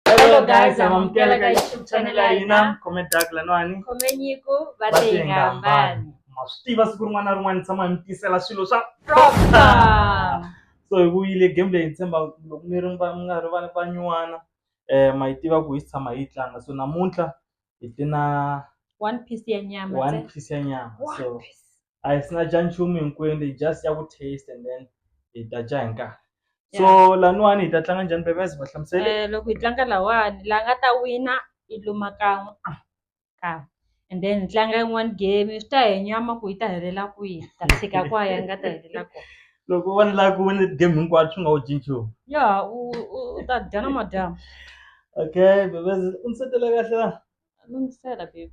Hello guys, amamukela ka YouTube channel ya hina comment dark lanwani khomenyiku va va tenga tenga mbani mbani ma swi tiva siku rin'wana na rin'wana ni tshama ni tisela swilo swa Proper. so hi vuyile game leyi ni tshemba loko mi ri va- mi nga ri va- vanyuwana um ma yi tiva ku hi swi tshama hi yi tlanga so namuntlha hi tlina one piece ya nyama one ntsena. piece ya nyama One so piece. a hi sina dya nchumu hinkwenu hi just ya ku taste and then hi ta dya hi nkarhi so laniwani hi ta tlanga njhani bebes va hlamusele Eh, loko hi tlanga lawani la nga ta wina i luma kan'we ah, kan'we and then hi tlanga yin'wani game swi ta hi nyama ku yi ta helela kwihi hi ta tshika kwaya yi nga ta helela kona loko u vona lava ku wina game hinkwato swi nga wu dyi nchumu ya u u- u ta dya na madyambu okay bebes u ndzi setele kahle la lunghisela baby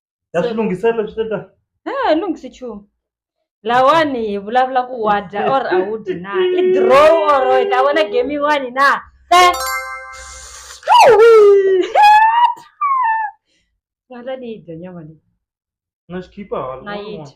ya swi lunghisela swi ta ha lunghisi nchumu lawani hi vulavula ku wa dya or a wu dyi na i draw or hi ta vona game yin'wani na se ngata ni yi dya nyama leyi na xi khipa hala na yi dya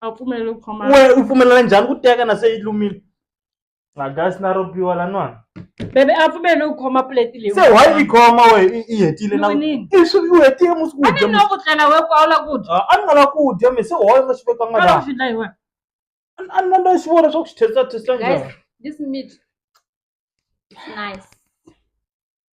a pfumeli ku khoma we u pfumelela njhani ku teka na se yi lumile magasi na ro biwa lanwana bebe a pfumeli ku khoma plate leyi se why yi khoma we i- i hetile na Yinini? i swi u hetile musi ku a dya ni no ku tlela we ku a wu la ku dya a ni nga la ku dya mi se why u nga xi vekanga a la ku laha swi dlayi wena a ni na xi vona swa ku xi thesa thesa guys njhani this meat is nice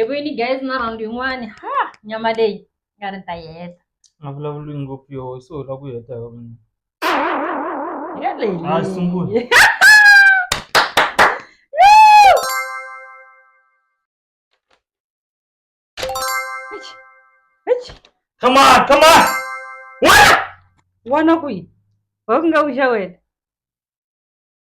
Ebu ini guys na round yin'wani ha nyama leyi nga ri ta heta nga vulavuli ngopfu yo se u la ku heta yo mina yeleyi Ah, sungula. come on come on wana wana kwihi wa ku nga wuxa wena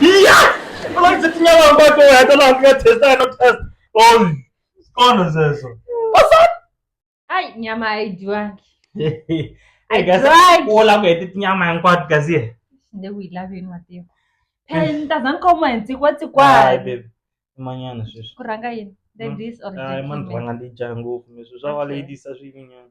iya ola ndzi tinyala mbako ya ta laha ka test ya no test oh kona zeso osa ai nyama haidiwangi ai gasa Right. ola ku heti tinyama hinkwato gaziye nde ku yi laveni matiyo pheni tazani ka uma hi ntsikwatsikwani baby imanyana sweswi ku rhanga yini ladies or ai mani gentlemen? rhanga ndi dya ngopfu mi sweswi swa va ladies a swi yinyana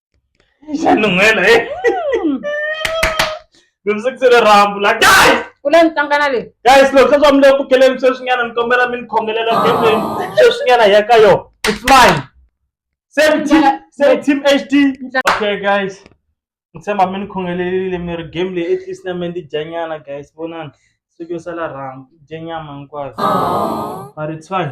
xanun'wela e loviseke se rirhambu la guys u le ntsangana leyi guys loko se swa mi le ku bukeleni sweswinyana ni kombela mi ni khongelela ngemeni sweswinyana hi ya ka yona it's mine same team same team hd okay guys ni tshemba mi ni khongelelile mi ri game leyi at least na me ndi dyanyana guys vonani siku yo sala rhambu dye nyama hinkwayo mari it's fine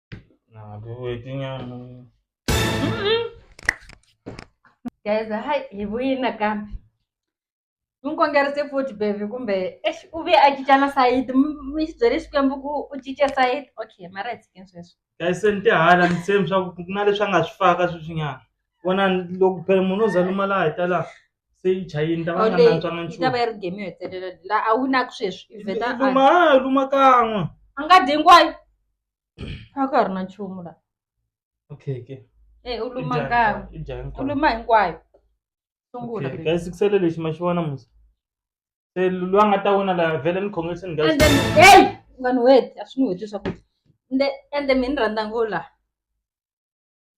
Nah, bu itunya. Guys, hai ibu ina ka. Mun kongera se futhi baby kumbe eish ube ajijana side mizwele xikwembu ku u cince side. Okay, mara it's against sweswo. Guys, se ni tihala ni same swa ku ku na leswi a nga swi faka sweswinyana. Vona loko phela munhu o zaluma laha hi ta laha se yi chayini ta va nga Ole, nantswanga yi ta va nchumu. yi ri game yo hetelela. La a wu na ku sweswi. Iveta a- Luma, luma kan'we. a nga dyi hinkwayo. a ka ha ri na nchumu la okay ke e u luma kan'we i dya u hinkwayo luma hinkwayo sungula Okay, guys sikusele lexi ma xi vona musa se loyi a nga ta wina la vhele ni congratulations guys and then hey u nga ni weti a swi ni weti leswaku ende ende mi ni rhandza ngo la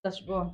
ta swi vona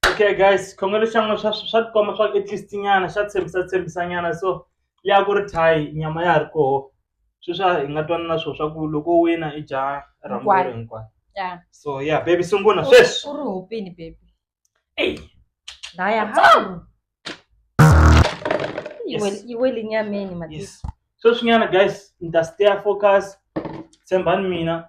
Okay guys xikhongelo xa n'wina swa swa tikomba swa ku at least nyana xa tshembisa tshembisa nyana so liya ku ri thayi nyama ya ha ri koho sweswi a hi nga twani na swona swa ku loko u wina i dya rhambu Hinkwayo. leri hinkwayo ya so ya baby sungula u sweswi u ri hopini baby Eyi. laya hawu Yi wel- Yes. yi wele nyameni matisa yes sweswi nyana guys ni ta stay focus tshembani mina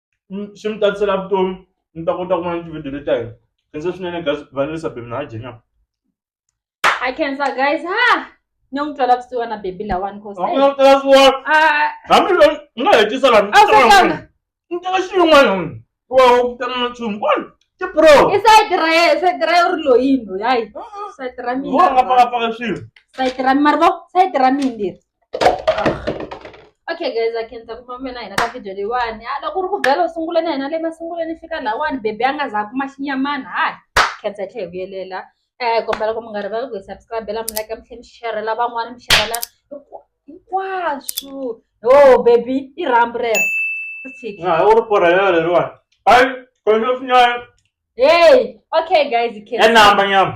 swi mi tatisela vutomi mi ta kota ku vona tivhidiyo leti ta hina khensa swinene guys vanelisa bebi na jenya a khensa guys ha ni n'wi twela kusuwa na bebi lawani kositela suwa hambi lo ni nga hetisa lani ni teka xiyin'wana wa ku tana na nchumu kwani tipro i sayiti ra ye sayiti ra ye u ri loyini loyi hayi sayiti ra mina vo nga pakapaka swilo sayiti ra mi mari vo sayiti ra mina leri okay guys a khensa ku mamela hina ka video leyiwani a loko ri ku vhela u sungula na hina le masunguleni fika lawani bebi a nga za kuma xinyamana hayi khensa hi tlhe hi vuyelela um kombela ku mi nga rivali ku hi subscribela mi like mi tlhe mi xerhela van'wana mi xerhela hinkwaswo yo bebi i rhambu rero ri tshiki u ri porhela leriwani hayi kwenxa swinyana hey okay guys khensa ya namba nyama